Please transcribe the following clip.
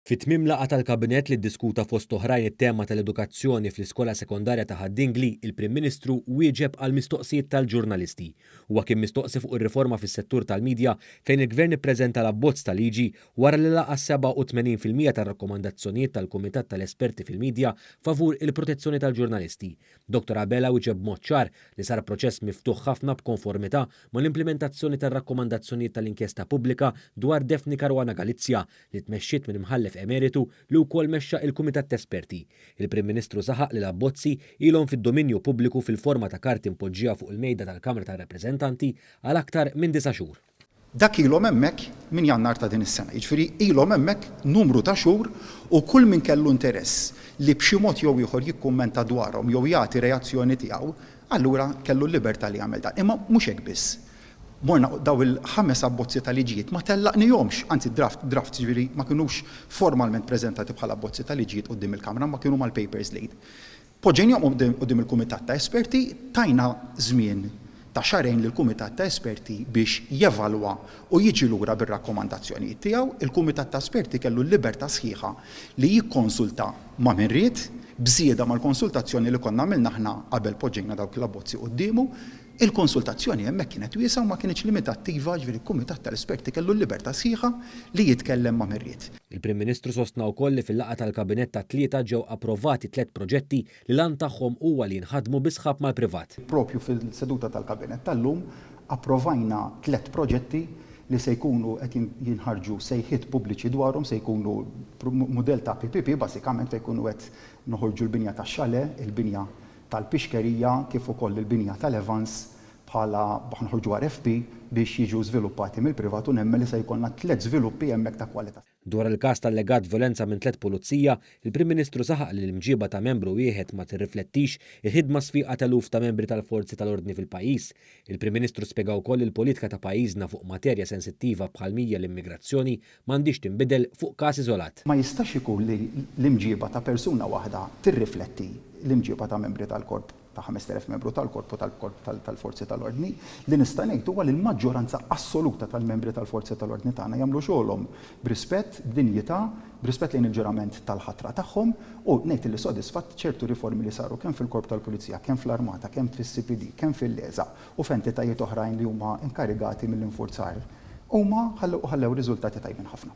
Fi tmiem laqgħa tal-Kabinett li ddiskuta fost oħrajn it-tema tal-edukazzjoni fl-Iskola Sekondarja ta' Ħad Dingli, il-Prim Ministru wieġeb għal mistoqsijiet tal-ġurnalisti. Huwa kien mistoqsi fuq ir-riforma fis-settur tal-midja fejn il-Gvern ippreżenta l-abbozz ta' liġi wara li laqa' s-sebgħa u tmenin fil-mija tar-rakkomandazzjonijiet tal-Kumitat tal-Esperti fil-Midja favur il-protezzjoni tal-ġurnalisti Dottor Abela wieġeb b'mod ċar li sar proċess miftuħ ħafna b'konformità mal-implimentazzjoni tar-rakkomandazzjonijiet tal-inkjesta pubblika dwar Daphne Caruana Galizia, li tmexxiet minn Imħallef Emeritu li wkoll mexxa il-Kumitat t'Esperti. Il-Prim Ministru saħaq li l-abbozzi ilhom fid-dominju pubbliku fil-forma ta' karti mpoġġija fuq il-mejda tal-Kamra tar-Rappreżentanti għal aktar minn disa' xhur. Dak ilhom hemmhekk minn Jannar ta' din is-sena. Jiġifieri ilhom hemmhekk numru ta' xhur u kull min kellu interess li b'xi mod jew ieħor jikkummenta dwarhom jew jagħti reazzjoni tiegħu, allura kellu l-libertà li jagħmel dan. Imma mhux hekk biss. Morna u dawn il-ħames abbozzi ta' liġijiet ma tellaqnihomx, anzi draft, drafts jiġifieri ma kinux formalment preżentati bħala abbozzi ta' liġijiet quddiem il-Kamra imma kienu mal-papers lead. Poġġejnihom quddiem il-kumitat ta' esperti, tajna żmien ta' xahrejn lill-kumitat ta' esperti biex jevalwa u jiġi lura bir-rakkomandazzjonijiet tiegħu. Il-kumitat ta' esperti kellu l-libertà sħiħa li jikkonsulta ma' min ried, b'żieda mal-konsultazzjoni li konna għamilna aħna qabel poġġejna dawk l-abbozzi quddiemu. Il-konsultazzjoni hemmhekk kienet wiesgħa u ma kinitx limitattiva, jiġifieri l-kumitat tal-esperti kellu l-libertà sħiħa li jitkellem ma' min ried. Il-Prim Ministru sostna wkoll li fil-laqgħa tal-Kabinett tat-Tlieta ġew approvati tliet proġetti li l-għan tagħhom huwa li jinħadmu bi sħab mal-privat. Proprju fil-seduta tal-Kabinett tal-lum approvajna tliet proġetti li se jkunu qed jinħarġu sejħiet pubbliċi dwarhom, se jkunu mudell ta' PPP basikament fejn jkunu qed noħorġu l-binja tax-xalè, il-binja tal-pixkerija kif ukoll il-binja tal-Evans bħala b'ħnoħorġuha RFP biex jiġu żviluppati mill-privat u nemmen li se jkollna tliet żviluppi hemmhekk ta' kwalità. Dwar il-każ ta' allegat vjolenza minn tliet pulizija, il-Prim Ministru saħaq li l-imġieba ta' membru wieħed ma tirriflettix il-ħidma sfiqa t'eluf ta' membri tal-forzi tal-ordni fil-pajjiż. Il-Prim Ministru spjega wkoll li l-politika ta' pajjiżna fuq materja sensittiva bħal mhija l-immigrazzjoni ma għandhiex tinbidel fuq każ iżolat. Ma jistax ikun li l-imġiba ta' persuna waħda tirrifletti l-imġiba ta' membri tal-korp ta' 5,000 membru tal-korp u tal-korp tal-forzi tal-ordni. Li nista' ngħid huwa li l-maġġoranza assoluta tal-membri tal-forzi tal-ordni tagħna jagħmlu xogħolhom b'rispett, b'dinjità, b'rispett lejn il-ġurament tal-ħatra tagħhom u ngħid li sodisfatt ċertu riformi li saru kemm fil-Korp tal-Pulizija, kemm fl-Armata, kemm fis-CPD, kemm fil-LESA u f'entitajiet oħrajn li huma inkarigati mill-infurzar, huma ħallew u ħallew riżultati tajbin ħafna.